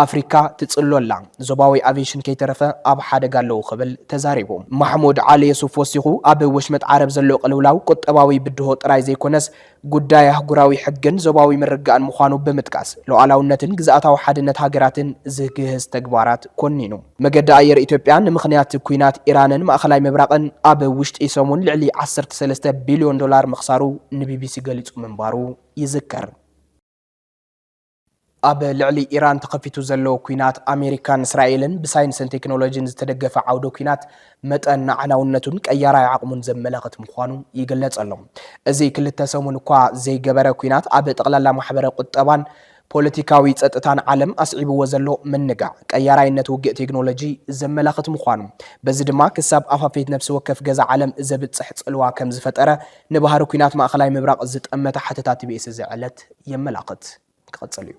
ኣፍሪካ ትፅሎ ኣላ፣ ዞባዊ ኣቪዬሽን ከይተረፈ ኣብ ሓደጋ ኣለዉ ክብል ተዛሪቡ። ማሕሙድ ዓሊ የሱፍ ወሲኹ ኣብ ወሽመጥ ዓረብ ዘሎ ቅልውላው ቁጠባዊ ብድሆ ጥራይ ዘይኮነስ ጉዳይ ኣህጉራዊ ሕግን ዞባዊ ምርግጋእን ምዃኑ ብምጥቃስ ሉኣላውነትን ግዝኣታዊ ሓድነት ሃገራትን ዝግህስ ተግባራት ኮኒኑ። መገዲ ኣየር ኢትዮጵያ ንምኽንያት ኲናት ኢራንን ማእኸላይ ምብራቕን ኣብ ውሽጢ ሰሙን ልዕሊ ዓሰርተ ሰለስተ ቢልዮን ዶላር ምኽሳሩ ንቢቢሲ ገሊፁ ምንባሩ ይዝከር። ኣብ ልዕሊ ኢራን ተኸፊቱ ዘሎ ኩናት ኣሜሪካን እስራኤልን ብሳይንስን ቴክኖሎጂን ዝተደገፈ ዓውደ ኩናት መጠን ኣዕናውነቱን ቀያራይ ዓቕሙን ዘመላኽት ምዃኑ ይግለጽ ኣሎ። እዚ ክልተ ሰሙን እኳ ዘይገበረ ኩናት ኣብ ጠቕላላ ማሕበረ ቁጠባን ፖለቲካዊ ጸጥታን ዓለም ኣስዒብዎ ዘሎ ምንጋዕ ቀያራይነት ውግእ ቴክኖሎጂ ዘመላኽት ምዃኑ በዚ ድማ ክሳብ ኣፋፌት ነፍሲ ወከፍ ገዛ ዓለም ዘብጽሕ ጽልዋ ከም ዝፈጠረ ንባህሪ ኩናት ማእከላይ ምብራቕ ዝጠመተ ሓተታ ቲቢኤስ እዚ ዕለት የመላኽት ክቕጽል እዩ።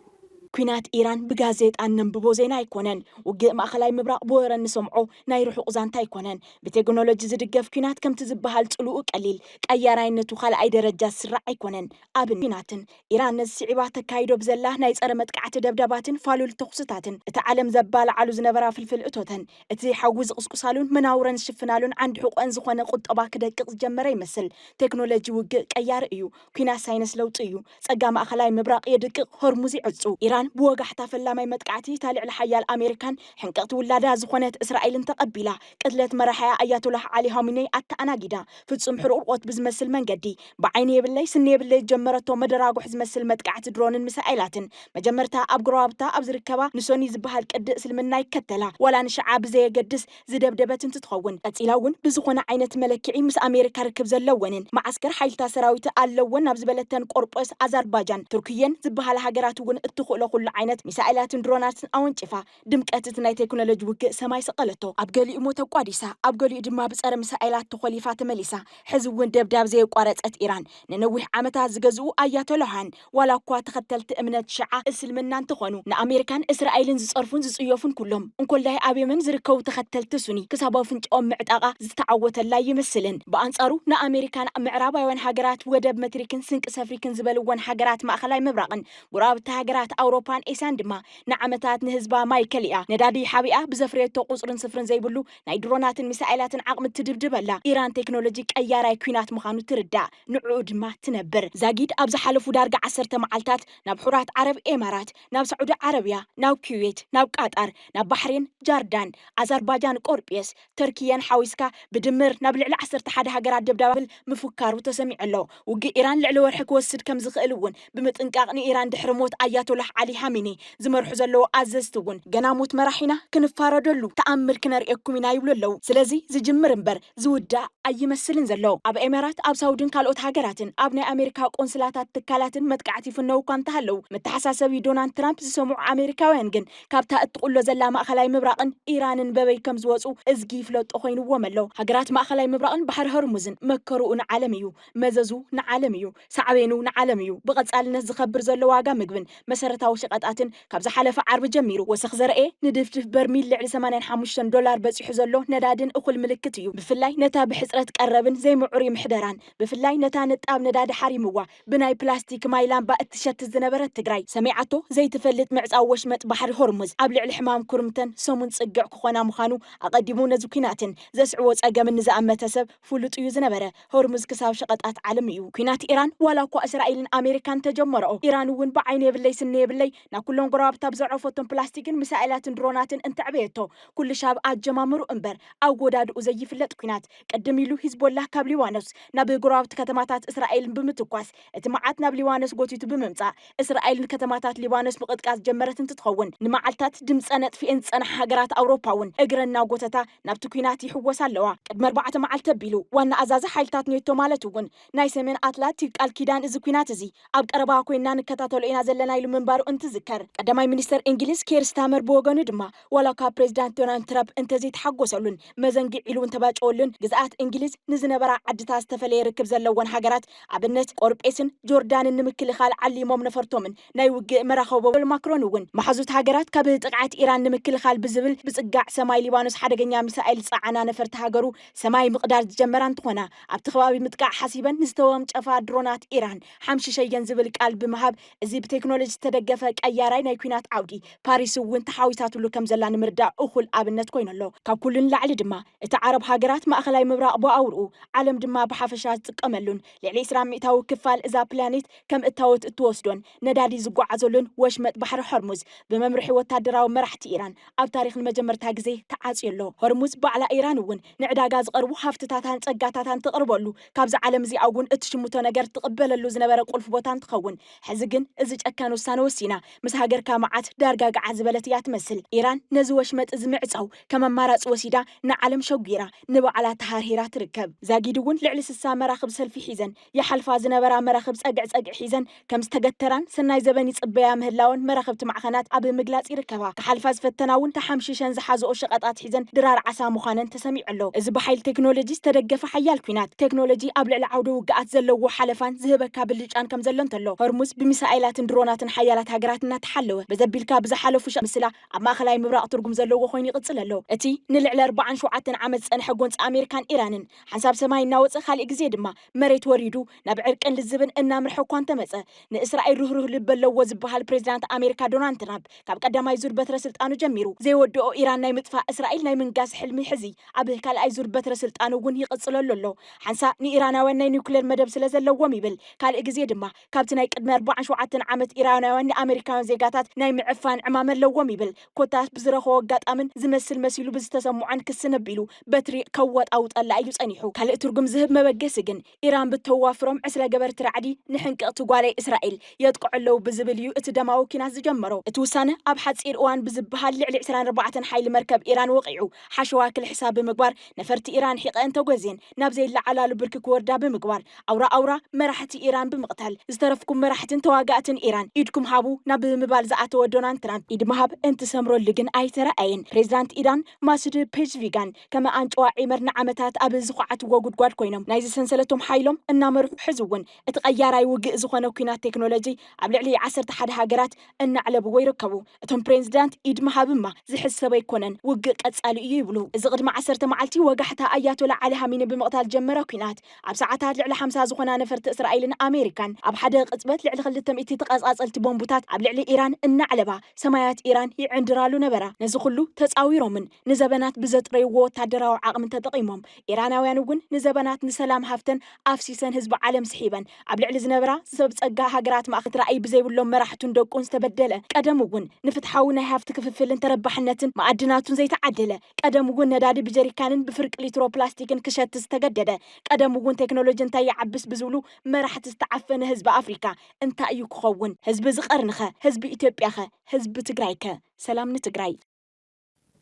ኲናት ኢራን ብጋዜጣ እነንብቦ ዜና ኣይኮነን። ውግእ ማእኸላይ ምብራቕ ብወረ እንሰምዖ ናይ ርሑቕ ዛንታ ኣይኮነን። ብቴክኖሎጂ ዝድገፍ ኲናት ከምቲ ዝበሃል ጽልኡ ቀሊል፣ ቀያራይነቱ ካልኣይ ደረጃ ዝስራዕ ኣይኮነን። ኣብነት ኲናትን ኢራን ነዚ ስዒባ ተካይዶ ብዘላ ናይ ጸረ መጥቃዕቲ ደብዳባትን ፋሉል ተኹስታትን እታ ዓለም ዘባላዓሉ ዝነበራ ፍልፍል እቶተን እቲ ሓዊ ዝቕስቁሳሉን መናውረን ዝሽፍናሉን ዓንዲ ሕቖኣን ዝኾነ ቁጠባ ክደቅቕ ዝጀመረ ይመስል። ቴክኖሎጂ ውግእ ቀያሪ እዩ። ኲናት ሳይነስ ለውጢ እዩ። ጸጋ ማእከላይ ምብራቕ የድቅቕ፣ ሆርሙዝ ይዕጹ፣ ኢራን ብወጋሕታ ፈላማይ መጥቃዕቲ እታ ልዕለ ሓያል ኣሜሪካን ሕንቅቕቲ ውላዳ ዝኾነት እስራኤልን ተቐቢላ፣ ቅትለት መራሒኣ ኣያቶላህ ዓሊ ሃሚነይ ኣተኣናጊዳ፣ ፍጹም ሕርቑርቖት ብዝመስል መንገዲ ብዓይኒ የብለይ ስኒ የብለይ ዝጀመረቶ መደራጉሕ ዝመስል መጥቃዕቲ ድሮንን ሚሳኤላትን መጀመርታ ኣብ ጎረባብታ ኣብ ዝርከባ ንሶኒ ዝበሃል ቅዲ እስልምና ይከተላ ዋላ ንሽዓ ብዘየገድስ ዝደብደበት እንትትኸውን፣ ቀጺላ እውን ብዝኾነ ዓይነት መለክዒ ምስ ኣሜሪካ ርክብ ዘለወንን መዓስከር ሓይልታት ሰራዊት ኣለወን ናብ ዝበለተን ቆርጰስ፣ ኣዛርባጃን ቱርክየን ዝበሃላ ሃገራት እውን እትኽእሎ ኩሉ ዓይነት ሚሳኤላትን ድሮናትን ኣወንጪፋ ድምቀት እቲ ናይ ቴክኖሎጂ ውግእ ሰማይ ሰቐለቶ። ኣብ ገሊኡ'ሞ ተቋዲሳ ኣብ ገሊኡ ድማ ብጸረ ሚሳኤላት ተኾሊፋ ተመሊሳ። ሕዚ እውን ደብዳብ ዘየቋረጸት ኢራን፣ ንነዊሕ ዓመታት ዝገዝኡ ኣያቶላውያን ዋላኳ ተኸተልቲ እምነት ሽዓ፣ እስልምና፣ እንተኾኑ፣ ንኣሜሪካን እስራኤልን ዝጸርፉን ዝጽዮፉን ኩሎም፣ እንኮላይ ኣብ የመን ዝርከቡ ተኸተልቲ ሱኒ፣ ክሳብ ኣፍንጭኦም ምዕጣቓ ዝተዓወተላ ኣይመስልን። ብኣንጻሩ ንኣሜሪካን ምዕራባውያን ሃገራት ወደብ መትሪክን ስንቂ ሰፍሪክን ዝበልወን ሃገራት ማእኸላይ ምብራቕን ጎረባብቲ ሃገራት ኣውሮፓን ኤስያን ድማ ንዓመታት ንህዝባ ማይ ከሊኣ ነዳዲ ሓቢኣ ብዘፍረየቶ ቁጽርን ስፍርን ዘይብሉ ናይ ድሮናትን ሚሳኤላትን ዓቕሚ እትድብድበላ ኢራን ቴክኖሎጂ ቀያራይ ኲናት ምኻኑ ትርዳእ። ንዕኡ ድማ ትነብር። ዛጊድ ኣብ ዝሓለፉ ዳርጋ ዓሰርተ መዓልታት ናብ ሑራት ዓረብ ኤማራት፣ ናብ ሳዑዲ ዓረብያ፣ ናብ ኩዌት፣ ናብ ቃጣር፣ ናብ ባሕሬን፣ ጃርዳን፣ ኣዛርባጃን ቆርጵየስ፣ ተርክየን ሓዊስካ ብድምር ናብ ልዕሊ ዓሰርተ ሓደ ሃገራት ደብዳብል ምፍካሩ ተሰሚዑ ኣሎ። ውግእ ኢራን ልዕሊ ወርሒ ክወስድ ከምዝኽእል እውን ብምጥንቃቕ ንኢራን ድሕሪ ሞት ኣያቶላህ ዓሊ ሃሚኒ ዝመርሑ ዘለዉ ኣዘዝቲ እውን ገና ሞት መራሒና ክንፋረደሉ ተኣምር ክነርእየኩም ኢና ይብሉ ኣለዉ። ስለዚ ዝጅምር እምበር ዝውዳእ ኣይመስልን ዘሎ። ኣብ ኤሜራት፣ ኣብ ሳውድን ካልኦት ሃገራትን ኣብ ናይ ኣሜሪካ ቆንስላታት ትካላትን መጥቃዕቲ ይፍነዉ እኳ እንተሃለዉ መተሓሳሰቢ ዶናልድ ትራምፕ ዝሰምዑ ኣሜሪካውያን ግን ካብታ እትቕሎ ዘላ ማእኸላይ ምብራቕን ኢራንን በበይ ከምዝወፁ እዝጊ ይፍለጦ ኮይንዎም ኣሎ። ሃገራት ማእኸላይ ምብራቕን ባሕሪ ሆርሙዝን መከርኡ ንዓለም እዩ። መዘዙ ንዓለም እዩ፣ ሳዕቤኑ ንዓለም እዩ። ብቐጻልነት ዝኸብር ዘሎ ዋጋ ምግብን መሰረታዊ ሸቐጣትን፣ ካብ ዝሓለፈ ዓርቢ ጀሚሩ ወሰኽ ዘርኣየ፣ ንድፍድፍ በርሚል ልዕሊ ሰማንያን ሓሙሽተን ዶላር በጺሑ ዘሎ ነዳዲን እኹል ምልክት እዩ። ብፍላይ ነታ ብሕጽረት ቀረብን ዘይምዕሩይ ምሕደራን፣ ብፍላይ ነታ ንጣብ ነዳዲ ሓሪምዋ ብናይ ፕላስቲክ ማይ ላምባ እትሸትት ዝነበረት ትግራይ፣ ሰሚዓቶ ዘይትፈልጥ ምዕጻው ወሽመጥ ባሕሪ ሆርሙዝ፣ ኣብ ልዕሊ ሕማም ኩርምተን ሰሙን ጽግዕ ክኾና ምዃኑ፣ ኣቐዲሙ ነዚ ኲናትን ዘስዕቦ ጸገምን ንዝኣመተ ሰብ ፍሉጥ እዩ ዝነበረ። ሆርሙዝ ክሳብ ሸቀጣት ዓለም እዩ ኩናት ኢራን ዋላ እኳ እስራኢልን ኣሜሪካን እንተጀመረኦ ኢራን እውን ብዓይኒ የብለይ ስኒ የብለይ ናብ ኩሎም ጎረባብታ ብዘዕረፎቶም ፕላስቲክን ምሳኤላትን ድሮናትን እንተዕበየቶ ኩሉሻ ኣብ ኣጀማምርኡ እምበር ኣወዳድኡ ዘይፍለጥ ኩናት ቅድም ኢሉ ሂዝቦላህ ካብ ሊባኖስ ናብ ጎረባብቲ ከተማታት እስራኤል ብምትኳስ እቲ መዓት ናብ ሊባኖስ ጎቲቱ ብምምጻእ እስራኤል ንከተማታት ሊባኖስ ምቕጥቃጥ ዝጀመረት እንትትኸውን፣ ንመዓልታት ድምጸን ኣጥፊኤን ዝጸንሓ ሃገራት ኣውሮፓ'ውን እግረን እናጎተታ ናብቲ ኲናት ይሕወሳ ኣለዋ። ቅድሚ ኣርባዕተ መዓልቲ ኣቢሉ ዋና ኣዛዚ ሓይልታት ኔቶ ማለት'ውን ናይ ሰሜን ኣትላቲክ ቃል ኪዳን እዚ ኲናት እዚ ኣብ ቀረባ ኮይንና ንከታተሎ ኢና ዘለና ኢሉ ምንባሩ እንትዝከር፣ ቀዳማይ ሚኒስተር እንግሊዝ ኬር ስታመር ብወገኑ ድማ፣ ዋላ እኳ ፕሬዚዳንት ዶናልድ ትራፕ እንተዘይተሓጎሰሉን መዘንግዕ ኢሉ እንተባጨወሉን ግዝኣት እንግሊዝ ንዝነበራ ዓድታት ዝተፈለየ ርክብ ዘለወን ሃገራት ኣብነት ቆርጴስን ጆርዳንን ንምክልኻል ዓሊሞም ነፈርቶምን ናይ ውግእ መራኸቦ እል ማክሮን እውን መሓዙት ሃገራት ካብ ጥቕዓት ኢራን ንምክልኻል ብዝብል ብፅጋዕ ሰማይ ሊባኖስ ሓደገኛ ሚሳኤል ዝፀዓና ነፈርቲ ሃገሩ ሰማይ ምቕዳድ ዝጀመራ እንትኾና ኣብቲ ከባቢ ምጥቃዕ ሓሲበን ንዝተወንጨፋ ድሮናት ኢራን ሓምሽሸየን ዝብል ቃል ብምሃብ እዚ ብቴክኖሎጂ ዝተደገፈ ቀያራይ ናይ ኲናት ዓውዲ፣ ፓሪስ እውን ተሓዊሳትሉ ከም ዘላ ንምርዳእ እኹል ኣብነት ኮይኑ ኣሎ። ካብ ኩሉ ንላዕሊ ድማ፣ እቲ ዓረብ ሃገራት፣ ማእከላይ ምብራቕ ብኣውርኡ፣ ዓለም ድማ ብሓፈሻ ዝጥቀመሉን ልዕሊ ዕስራ ሚእታዊ ክፋል እዛ ፕላኔት ከም እታወት እትወስዶን ነዳዲ ዝጓዓዘሉን ወሽመጥ ባሕሪ ሆርሙዝ ብመምርሒ ወታደራዊ መራሕቲ ኢራን ኣብ ታሪኽ ንመጀመርታ ግዜ ተዓጽዩ ኣሎ። ሆርሙዝ ባዕላ ኢራን እውን ንዕዳጋ ዝቐርቡ ሃፍትታታን ጸጋታታን ተቕርበሉ ካብዛ ዓለም እዚኣ እውን እትሽምቶ ነገር ትቕበለሉ ዝነበረ ቁልፊ ቦታ እንትኸውን ሕዚ ግን እዚ ጨካን ውሳነ ወሲና ምስ ሃገርካ መዓት ዳርጋ ገዓት ዝበለት እያ ትመስል ኢራን ነዚ ወሽመጥ እዚ ምዕፃው ከም ኣማራፂ ወሲዳ ንዓለም ሸጒራ ንባዕላ ተሃርሂራ ትርከብ ዛጊድ እውን ልዕሊ ስሳ መራኽብ ሰልፊ ሒዘን ይሓልፋ ዝነበራ መራኽብ ፀግዒ ፀግዒ ሒዘን ከም ዝተገተራን ሰናይ ዘበን ይጽበያ ምህላወን መራኸብቲ ማዕኸናት ኣብ ምግላጽ ይርከባ። ክሓልፋ ዝፈተና እውን ተሓምሺሸን ዝሓዘኦ ሸቐጥ ኣትሒዘን ድራር ዓሳ ምዃነን ተሰሚዑ ኣሎ። እዚ ብሓይሊ ቴክኖሎጂ ዝተደገፈ ሓያል ኲናት፣ ቴክኖሎጂ ኣብ ልዕሊ ዓውደ ውግኣት ዘለዎ ሓለፋን ዝህበካ ብልጫን ከምዘሎ እንተሎ፣ ሆርሙዝ ብሚሳኤላትን ድሮናትን ሓያላት ሃገራት እናተሓለወ በዘቢልካ ብዝሓለፉ ሸሕ ምስላ ኣብ ማእከላይ ምብራቕ ትርጉም ዘለዎ ኮይኑ ይቕጽል ኣሎ። እቲ ንልዕሊ ኣርባዓን ሸውዓተን ዓመት ዝጸንሐ ጎንጺ ኣሜሪካን ኢራንን ሓንሳብ ሰማይ እናወጸ ካሊእ ግዜ ድማ መሬት ወሪዱ ናብ ዕርቅን ልዝብን እናምርሐ እኳ እንተመጸ፣ ንእስራኤል ርህሩህ ልቢ ኣለዎ ዝበሃል ፕሬዚዳንት ኣሜሪካ ዶናልድ ትራምፕ ካብ ቀዳማይ ዙር በትረ ስልጣኑ ጀሚሩ ዘይወደኦ ኢራን ናይ ምጥፋእ እስራኤል ናይ ምንጋስ ሕልሚ ሕዚ ኣብ ካልኣይ ዙር በትረ ስልጣኑ እውን ይቕፅለሉ ኣሎ። ሓንሳእ ንኢራናውያን ናይ ኒውክሌር መደብ ስለዘለዎም ይብል ካልእ ግዜ ድማ ካብቲ ናይ ቅድሚ ኣርባዓን ሸውዓተን ዓመት ኢራናውያን ንኣመሪካውያን ዜጋታት ናይ ምዕፋን ዕማም ኣለዎም ይብል። ኮታስ ብዝረኸቦ ኣጋጣምን ዝመስል መሲሉ ብዝተሰምዖን ክሲ ነቢሉ በትሪ ከዋጣውጠላ እዩ ጸኒሑ። ካልእ ትርጉም ዝህብ መበገሲ ግን ኢራን ብተዋፍሮም ዕስለ ገበርቲ ራዕዲ ንሕንቅቕቲ ጓለይ እስራኤል የጥቅዑ ኣለዉ ብዝብል እዩ እቲ ደማዊ ኲናት ዝጀመሮ። እቲ ውሳነ ኣብ ሓጺር እዋን ብዝበሃል ልዕሊ ዕስራን ኣርባዕተን ሓይሊ መርከብ ኢራን ወቒዑ ሓሸዋ ክልሕሳ ብምግባር ነፈርቲ ኢራን ሒቐኤን ተጎዝየን ናብ ዘይለዓላሉ ብርኪ ክወርዳ ብምግባር ኣውራ ኣውራ መራሕቲ ኢራን ብምቕታል ዝተረፍኩም መራሕትን ተዋጋእትን ኢራን ኢድኩም ሃቡ ናብ ምባል ዝኣተወ ዶናልድ ትራምፕ ኢድ ምሃብ እንትሰምረሉ ግን ኣይተረኣየን። ፕሬዚዳንት ኢራን ማሱድ ፔዝሽቪጋን ከም ኣንጭዋ ዒመር ንዓመታት ኣብ ዝኹዓትዎ ጉድጓድ ኮይኖም ናይዚ ሰንሰለቶም ሓይሎም እናመርሑ ሕዚ እውን እቲ ቀያራይ ውግእ ዝኾነ ኲናት ቴክኖሎጂ ኣብ ልዕሊ ዓሰርተ ሓደ ሃገራት እናዕለብዎ ይርከቡ። እቶም ፕሬንዝዳንት ኢድ ምሃብማ ዝሕሰብ ኣይኮነን፣ ውግእ ቀጻሊ እዩ ይብሉ። እዚ ቅድሚ ዓሰርተ መዓልቲ ወጋሕታ ኣያቶላ ዓሊ ሃሚኒ ብምቕታል ዝጀመረ ኲናት፣ ኣብ ሰዓታት ልዕሊ ሓምሳ ዝኾና ነፈርቲ እስራኤልን ኣሜሪካን ኣብ ሓደ ቅጽበት ልዕሊ ክልተ ሚእቲ ተቐጻጸልቲ ቦምቡታት ኣብ ልዕሊ ኢራን እናዕለባ ሰማያት ኢራን ይዕንድራሉ ነበራ። ነዚ ኩሉ ተጻዊሮምን ንዘበናት ብዘጥረይዎ ወታደራዊ ዓቕሚ ተጠቒሞም ኢራናውያን እውን ንዘበናት ንሰላም ሃፍተን ኣፍሲሰን ህዝቢ ዓለም ስሒበን ኣብ ልዕሊ ዝነበራ ሰብ ጸጋ ሃገራት ማእከ ራእይ ብዘይብሎም መራሕቱን ደቁን ዝተበደለ ቀደም እውን ንፍትሓዊ ናይ ሃፍቲ ክፍፍልን ተረባሕነትን መኣድናቱን ዘይተዓደለ ቀደም እውን ነዳዲ ብጀሪካንን ብፍርቂ ሊትሮ ፕላስቲክን ክሸት ዝተገደደ ቀደም እውን ቴክኖሎጂ እንታይ ይዓብስ ብዝብሉ መራሕቲ ዝተዓፈነ ህዝቢ ኣፍሪካ እንታይ እዩ ክኸውን ህዝቢ እዚ ቀርኒኸ ህዝቢ ኢትዮጵያኸ ህዝቢ ትግራይከ ሰላም ንትግራይ።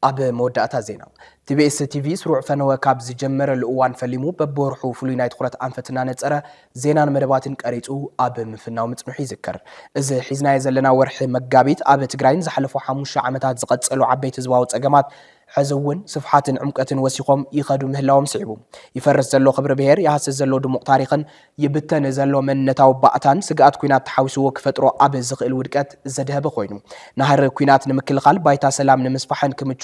ኣብ መወዳእታ ዜና ቲቢኤስ ቲቪ ስሩዕ ፈነወ ካብ ዝጀመረሉ እዋን ፈሊሙ በብወርሑ ፍሉይ ናይ ትኹረት ኣንፈት እናነፀረ ዜናን መደባትን ቀሪፁ ኣብ ምፍናው ምፅንሑ ይዝከር። እዚ ሒዝናዮ ዘለና ወርሒ መጋቢት ኣብ ትግራይ ንዝሓለፉ ሓሙሽተ ዓመታት ዝቐፀሉ ዓበይቲ ህዝባዊ ፀገማት ሕዚ እውን ስፍሓትን ዕምቀትን ወሲኾም ይኸዱ ምህላዎም ስዒቡ ይፈርስ ዘሎ ክብሪ ብሄር፣ ይሃስስ ዘሎ ድሙቕ ታሪኽን ይብተን ዘሎ መንነታዊ ባእታን ስግኣት ኲናት ተሓዊስዎ ክፈጥሮ ኣብ ዝኽእል ውድቀት ዘድሀበ ኮይኑ፣ ናህሪ ኲናት ንምክልኻል ባይታ ሰላም ንምስፋሕን ክምቹ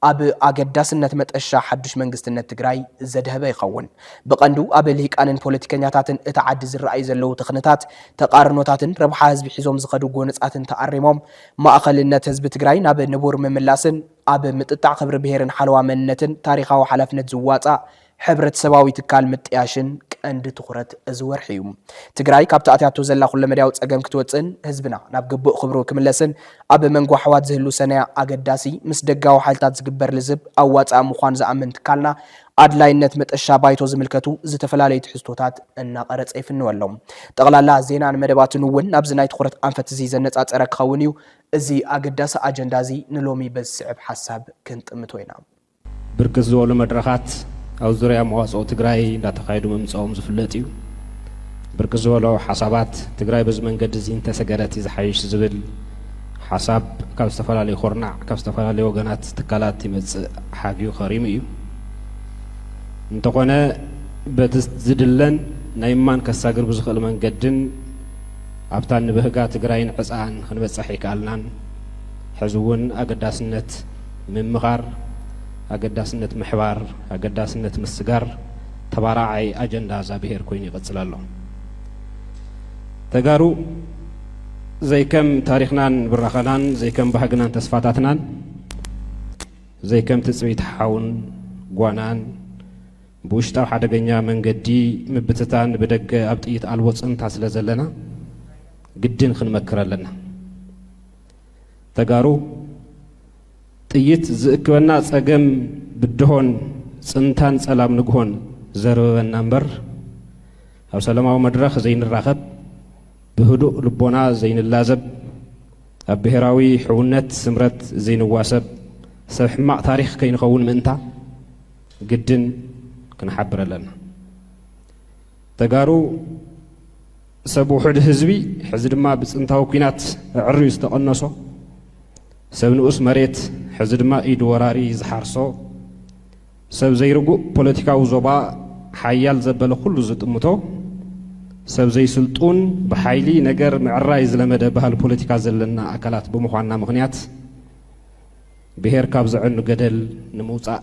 ኣብ ኣገዳስነት መጠሻ ሓዱሽ መንግስትነት ትግራይ ዘድሀበ ይኸውን። ብቐንዱ ኣብ ልሂቃንን ፖለቲከኛታትን እታ ዓዲ ዝረኣዩ ዘለዉ ትኽንታት፣ ተቓርኖታትን ረብሓ ህዝቢ ሒዞም ዝኸዱ ጎነጻትን ተኣሪሞም ማእኸልነት ህዝቢ ትግራይ ናብ ንቡር ምምላስን ኣብ ምጥጣዕ ክብሪ ብሄርን ሓለዋ መንነትን ታሪኻዊ ሓላፍነት ዝዋፃእ ሕብረተሰባዊ ትካል ምጥያሽን ቀንዲ ትኹረት እዚ ወርሒ እዩ። ትግራይ ካብቲ ኣትያቶ ዘላ ኩለመዳያዊ ፀገም ክትወፅእን ህዝብና ናብ ግቡእ ክብሩ ክምለስን ኣብ መንጎ ኣሕዋት ዝህሉ ሰነያ ኣገዳሲ ምስ ደጋዊ ሓይልታት ዝግበር ልዝብ ኣዋፃኢ ምዃኑ ዝኣምን ትካልና ኣድላይነት መጠሻ ባይቶ ዝምልከቱ ዝተፈላለዩ ትሕዝቶታት እናቐረፀ ይፍንወሎም። ጠቕላላ ዜናን መደባትን እውን ናብዚ ናይ ትኹረት ኣንፈት እዚ ዘነፃፀረ ክኸውን እዩ። እዚ ኣገዳሲ ኣጀንዳ እዚ ንሎሚ በዚ ዝስዕብ ሓሳብ ክንጥምቶ ኢና። ብርክት ዝበሉ መድረኻት ኣብ ዙርያ መዋፅኦ ትግራይ እንዳተኻየዱ ምምፀኦም ዝፍለጥ እዩ። ብርክት ዝበሉ ሓሳባት ትግራይ በዚ መንገዲ እዚ እንተሰገረት እዩ ዝሓይሽ ዝብል ሓሳብ ካብ ዝተፈላለዩ ኩርናዕ፣ ካብ ዝተፈላለዩ ወገናት፣ ትካላት ይመፅእ ሓግዩ ከሪሙ እዩ። እንተኾነ በቲ ዝድለን ናይ እማን ከሳግር ብዝኽእል መንገድን ኣብታ እንብህጋ ትግራይን ዕፀኣን ክንበፅሕ ኣይከኣልናን። ሕዚ እውን ኣገዳስነት ምምቓር፣ ኣገዳስነት ምሕባር፣ ኣገዳስነት ምስጋር ተባራዓይ ኣጀንዳ እዛ ብሄር ኮይኑ ይቕፅል ኣሎ። ተጋሩ ዘይከም ታሪኽናን ብራኸናን፣ ዘይከም ባህግናን ተስፋታትናን፣ ዘይከም ትፅቢት ሓውን ጓናን ብውሽጣዊ ሓደገኛ መንገዲ ምብትታን ብደገ ኣብ ጥይት ኣልቦ ፅንታ ስለ ዘለና ግድን ክንመክር ኣለና። ተጋሩ ጥይት ዝእክበና ጸገም ብድሆን ጽንታን ጸላም ንግሆን ዘርበበና እምበር ኣብ ሰላማዊ መድረኽ ዘይንራኸብ ብህዱእ ልቦና ዘይንላዘብ ኣብ ብሔራዊ ሕውነት ስምረት ዘይንዋሰብ ሰብ ሕማቕ ታሪኽ ከይንኸውን ምእንታ ግድን ክንሓብር ኣለና ተጋሩ ሰብ ውሑድ ህዝቢ ሕዚ ድማ ብጽንታዊ ኩናት ኣዕርዩ ዝተቐነሶ፣ ሰብ ንኡስ መሬት ሕዚ ድማ ኢድ ወራሪ ዝሓርሶ፣ ሰብ ዘይርጉእ ፖለቲካዊ ዞባ ሓያል ዘበለ ኩሉ ዝጥምቶ፣ ሰብ ዘይስልጡን ብሓይሊ ነገር ምዕራይ ዝለመደ ባህሊ ፖለቲካ ዘለና ኣካላት ብምዃንና ምኽንያት ብሄር ካብ ዘዕኑ ገደል ንምውጻእ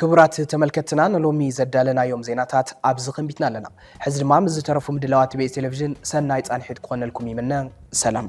ክቡራት ተመልከትትና ንሎሚ ዘዳለናዮም ዜናታት ኣብዚ ኸንቢትና ኣለና። ሕዚ ድማ ምስ ዝተረፉ ምድላዋት ቤት ቴሌቭዥን ሰናይ ፃንሒት ክኾነልኩም ይምነ። ሰላም።